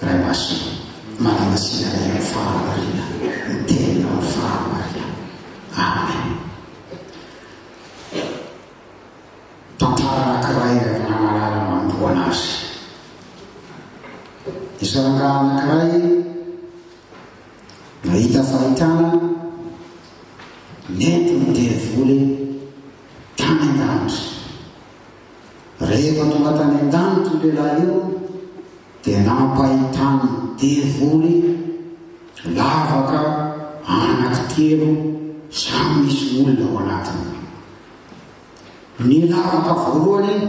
Ray Masina, manamasinga anay amin'ny fahamarina ny Teninao amin'ny fahamarina. Amen. Tantara anankiray ilay avy namarana manomboana azy. Nisy rangahy anankiray nahita fahitana nentin'ny devoly tany an-danitra. Rehefa tonga tany an-danitra io lehilahy io dia nampahitany ny devoly lavaka anankitelo samy misy olona ao anatiny. Ny lavaka voalohany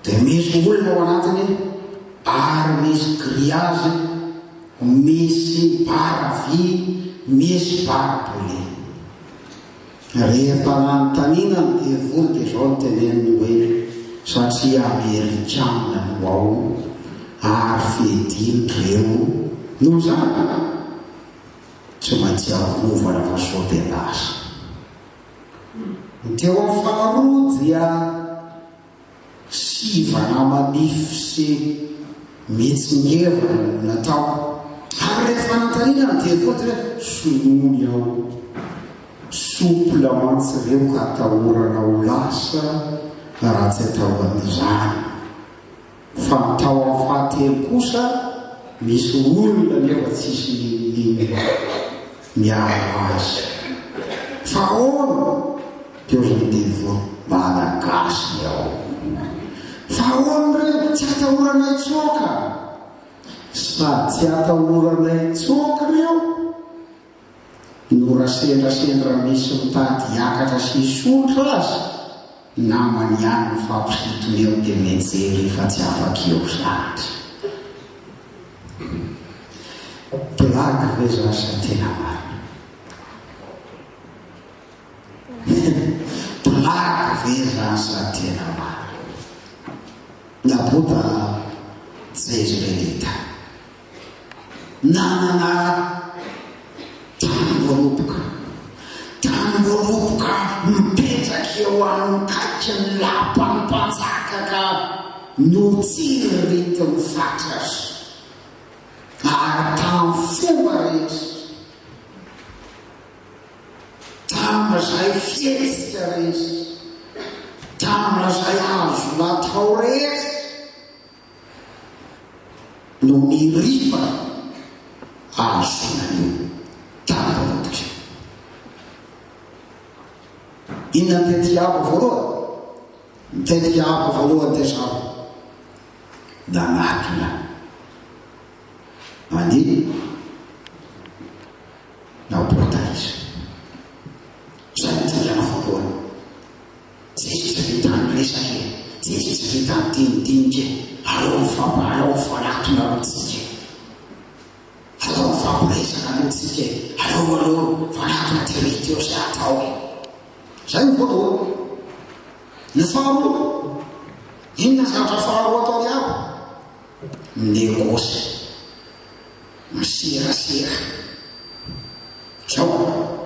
dia misy olona ao anatiny ary misy griazy, misy bara vy, misy bara boule. Rehefa nanontaniana ny Diavoly dia izao no teneniny hoe, Satria Amerikana no ao ary fediny ireo no zanaka, tsy maintsy arovana fa sao dia lasa. Ny teo amin'ny faharoa dia. Sivana manify sy mitsingevana no natao. Ary ilay fanontaniana ny devote hoe sonomy ao. Souple mantsy ireo ka atahorana ho lasa raha tsy atao an'izany. Fa ny tao amin'ny fahatelo kosa misy olona nefa tsisy n'inon'inona miaro azy. Fa ahoana? Teo ry Nivo, Malagasy ny ao. Fa ahoana re? Tsy atahoranay tsoaka? Sady tsy atahoranay tsoaka ireo? Norasendra sendra misy mitady hiakatra sy hisondrotra aza namany ihany ny faporito eo dia mijery fa tsy afaka eo zandry. Blague ve zany sa tena marina? Blague ve zany sa tena marina? Nabota jejrelita. Nanana tany voaroboka. Tany voaroboka mipetraka eo amin'ny kaikin'ny lapan'ny mpanjaka ka notsiriritiny faty aza. Ary tamin'ny fomba rehetra, tamin'izay fihetsika rehetra, tamin'izay azo natao rehetra, no nirifa hahazoana io tambajotra io. Inona ny tety hiabo voalohany? Ny tety hiabo voalohany dia izao, nanatona an'i Naobota izy. Izay no dingana voalohany. Tsisy vitan'ny resaka e! Tsisy vitan'ny dinidinika e! Aleo mifampi, aleo mifanatona aloha tsika e! Aleo mifampiresaka aloha tsika e! Aleo aloha mifanatona teo izy teo sy hatao e! Zay ny voalohany. Ny faharoa, inona zavatra faharoa atao ry abo? Minegosy, miserasera. Zao.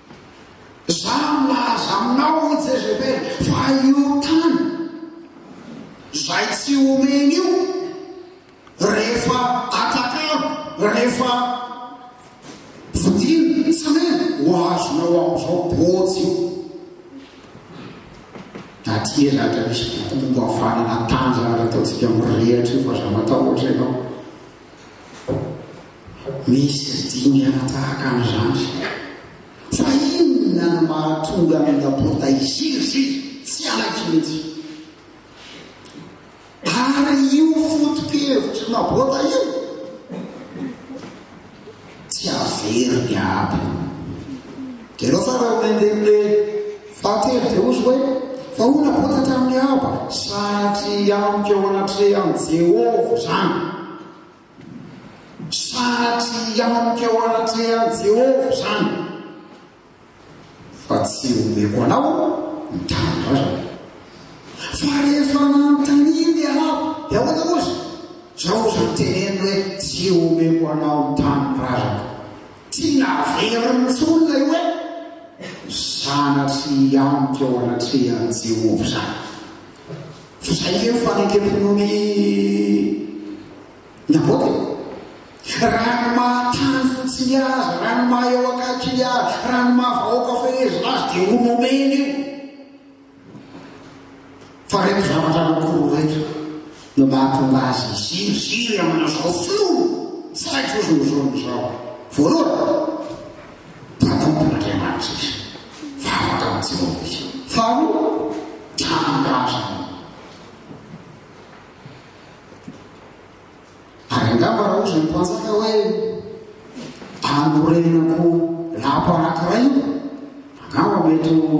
Za milaza aminao ry Jezebel fa io tany zay tsy omeny io rehefa atakalo, rehefa vidiana, tsy omeny, ho azonao amizao bôjy io. Taty ela aza nisy boky momba fanana tanjaka nataontsika mirehatra io fa za matahotra enao. Misy tsy dingana tahaka an'izany. Fa inona no mahatonga an'i Laporta hiziriziry? Tsy anaiky mihitsy. Ary io foto-kevitry Laporta io? tsy hahavery ny ady. Dia ireo farany nandeha fahatelo dia hozy hoe, Fa hoy Nabota tamin'i Ahaba, Sanatria amiko eo anatrehan'i Jehovah izany. Sanatria amiko eo anatrehan'i Jehovah izany. Fa tsy omeko anao ny tanindrazako. Fa rehefa nanontaniany i Ahaba, dia ahoana moa izy? Izao izy no teneniny hoe, Tsy omeko anao ny tanindrazako. Tiana averiny intsony ilay hoe, Sanatria hianoka eo anatrehan'i Jehovah izany. Fa izay ve no fanenkem-pinoan'i. Nabote. Rano maha tany fotsiny azy, rano maha eo akaikiny azy, rano maha vahoaka fehezina azy dia ho nomeny io. Fa ireto zavatra anankiroa ireto no mahatonga azy hiziriziry amin'izao filoha tsy haiko ozy ny zoniny izao. Voalohany, mpanompon'Andriamanitra izy, vavaka amin'i Jehovah izy. Faharoa, tanindrazana. Ary angamba raha ohatra ny mpanjaka hoe anorenako lapa anankiray io, angamba mety ho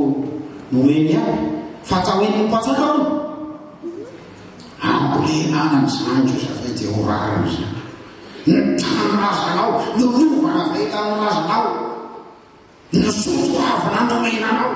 noeny ihany. Fa atao eny ny mpanjaka io. Ambolena any amin'izany koa satria dia ho rariny izany. Ny tany razanao, ny rovana avy tamin'ny razanao, ny zoto avy nanomena anao.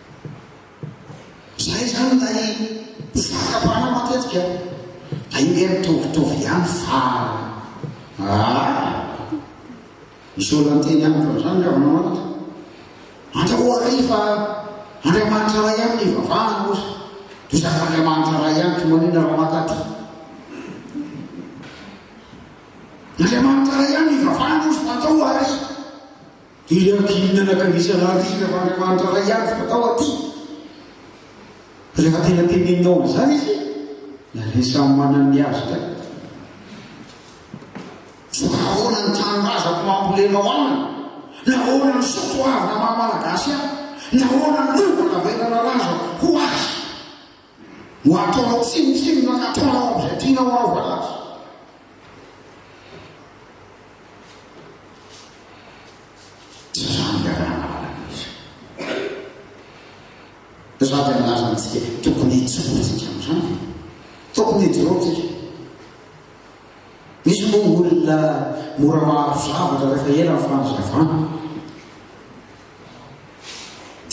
Izay izany ilay mpizaka mpanao matetika dia io nge mitovitovy ihany fa ah misy olona miteny amiko an'izany nga manao an'ity andrao ary fa Andriamanitra iray ihany ny vavahana ozy dia izany Andriamanitra iray ihany tsy manina raha maka ty Andriamanitra iray ihany ny vavahana ozy fa andrao ary Dia dimy mianaka misionary isan'Andriamanitra iray ihany vao tao aty. Rehefa tena tenenina ao amin'izany izy, dia ilay samy manana ny azy indray. Fa ahoana ny tanindrazako mampolena ao aminy? Nahoana ny soatoavina maha-malagasy ahy? Nahoana ny lova navelanalaza ho azy? Ho ataonao tsinontsinona ka ataonao amin'izay tianao aho va aza? Tsy izany ny Ralan'Andriamanitra. Izaho dia milaza amintsika, tokony hijoroantsika amin'izany e! Tokony hijoroantsika. Misy moa ny olona mora maharo zavatra rehefa ela ny fanazavana.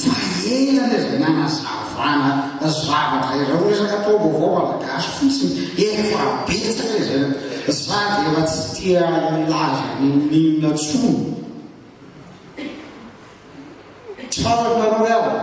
Mahena le zay nanazavana zavatra iray ho resaka taom-baovao malagasy fotsiny efa betsaka e zay za de efa tsy tia hilaza n'inon'inona tsony Tsaroanareo hoe ahoana?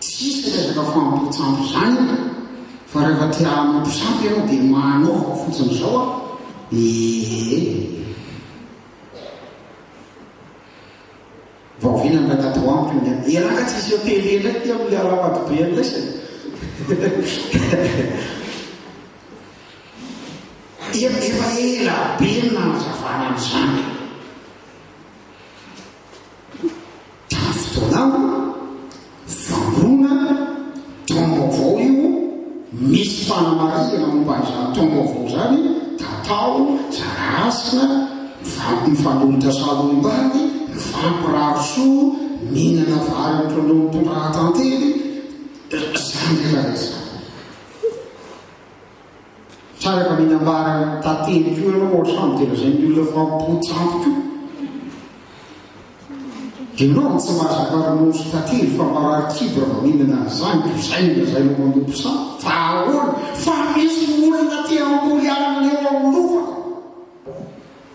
Tsisy resaka famototsandro izany fa rehefa te hamoto sampy ianao dia manaova fotsiny izao a! ee! Vao vita indray tato amiko iny an! Elah ka tsy asio télé indray ity amin'ny Harabado be an'ilay izy an! Efa ela be ny nanazavana an'izany. Diaspora, Vangona, Taom-baovao io, misy fanamarihana momba an'izany taom-baovao izany, tatao, zara-hasina, mivampy mifanohitra salohim-bady, mivampy rary soa, mihinana vary amin'ireo mpitondra tantely, izany rehetra izany. Tsara mila ambara tantely koa ianao hoatran'ny dia lazain'ny olona fa mpotsy koa. Ianao no tsy mahazaka ronono tantely fa marary kibo raha vao mihinana an'izany dia izay no lazainao manompo sampy fa ahoana fa misy olona te hamboly anana eo amin'ny lova.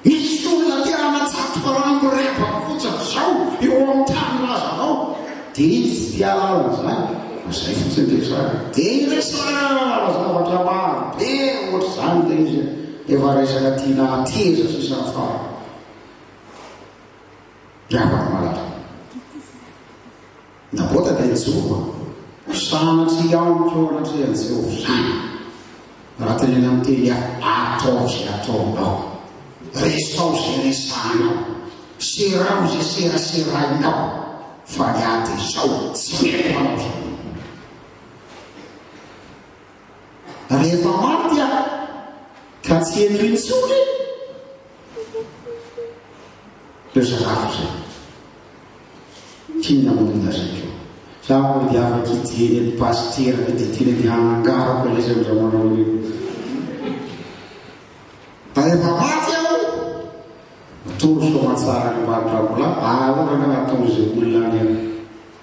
Misy olona te hanatsatoka rano mirebaka fotsiny izao eo amin'ny tany razanao dia izy tsy te hahalala an'izany fa izay fotsiny resaka. Dia iresahana zavatra maro be ohatr'izany ilay izy an! Efa resaka tiana hateza sisa ny farany. Miavaka malaza. Nabota dia nijoro, ary sanatria amiko eo anatrehan'i Jehovah ihany. Raha tenena amin'ny teny hafa, ataovy izay ataonao, resaho izay resahinao, seraho izay seraserahinao, fa ny ahy dia izao, tsy mety manao izany. Rehefa maty aho, ka tsy eto intsony, leo zarafo zay. Fina monina zay ko. Za ko dia avy aty dieny ny pasitera ny didina dia hanangarako ilay zay ndra manao io. Rehefa maty aho, atoro soamatsara ny mbadrakola, ahaorana natoro izay olona any aho.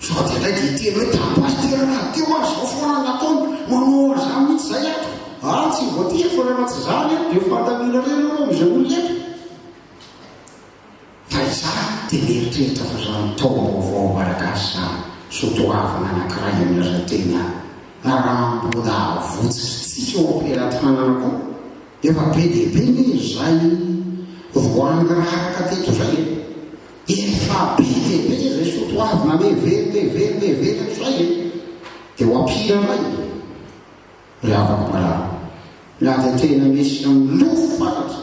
Sady indray dia hiteny hoe tamin'ny pasitera raha teo aho izao foana no ataony, manao an'izany mihitsy izay ato. Ary tsy voatery fa raha tsy izany aho dia fantaniana irery ireo amin'izay olona eto. Fa izaho dia mieritreritra fa izany taom-baovao malagasy izany, soatoavina anankiray amin'ny lazatenà Ramboda avotsintsika ao am-pelatanana koa. Efa be dia be ny izay voangarahaka teto izay e! Efa be dia be izay soatoavina anie velona e, velona e, velona izay e! Dia ho ampira indray e! Ry havako marary, na dia tena misy milofo fatratra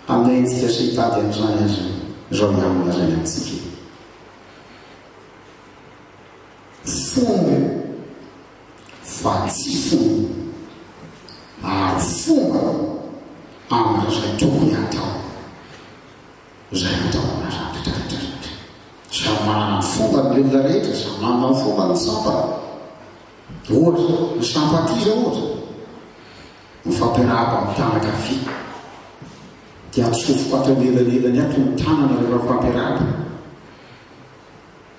amin'ny ain-tsika sy hitady an'izany aza izao ihany no lazaina amintsika e! Fomba fa tsy fomba, ary fomba amin'izay tokony hatao. izay hataon'ilay rafitra rehetra rehetra. Samy manana ny fombany ilay olona rehetra, samy manana ny fombany ny sampana. Ohatra, ny sampati izao ohatra, mifampirahaba amin'ny tanana ankavia, dia atsofoka ato anelanelany ato ny tanana rehefa mifampirahaba.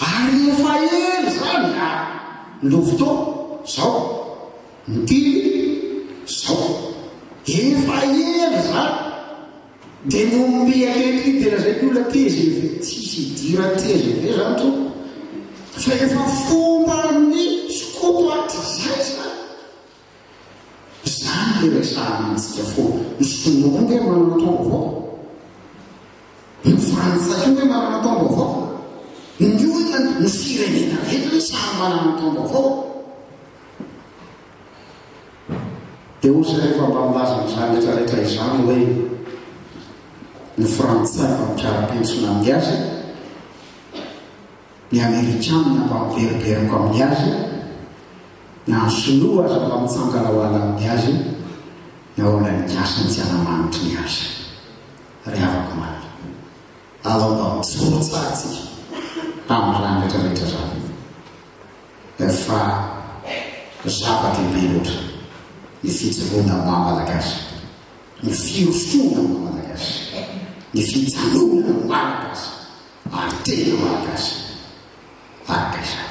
Ary io fahery zany a! Lovitô, zao, mitily, zao, efa hery zany! Dia momby ankehitriny dia lazaiko ny olona tgv, tsisy hidiran'ny tgv zany tompoko, fa efa fomban'ny skoto hatrizay zany! Izany no iresahana antsika foana. Ny Sinoa koa ange manana taom-baovao. Ny Frantsay koa ange manana taom-baovao. Ny olona, ny firenena rehetra ve samy manana ny taom-baovao? Dia hoy izay rehefa mba milaza an'izany rehetra rehetra izany hoe ny Frantsay mba mpiara-pentsona amin'ny azy, ny Amerikana mba miverimberiko amin'ny azy, na ny sinoa aza mba mitsangana ho alan'ny azy na ho anan'ny gasy ny tsy hanamanitry ny azy. Ry havako omaly, alao mba mijoro tsara isika amin'izany retraretra izany fa zava-dehibe loatra ny fijoroana amin'ny maha malagasy, ny firosoana amin'ny maha malagasy, ny fijanonana amin'ny maha malagasy ary tena malagasy araka izany.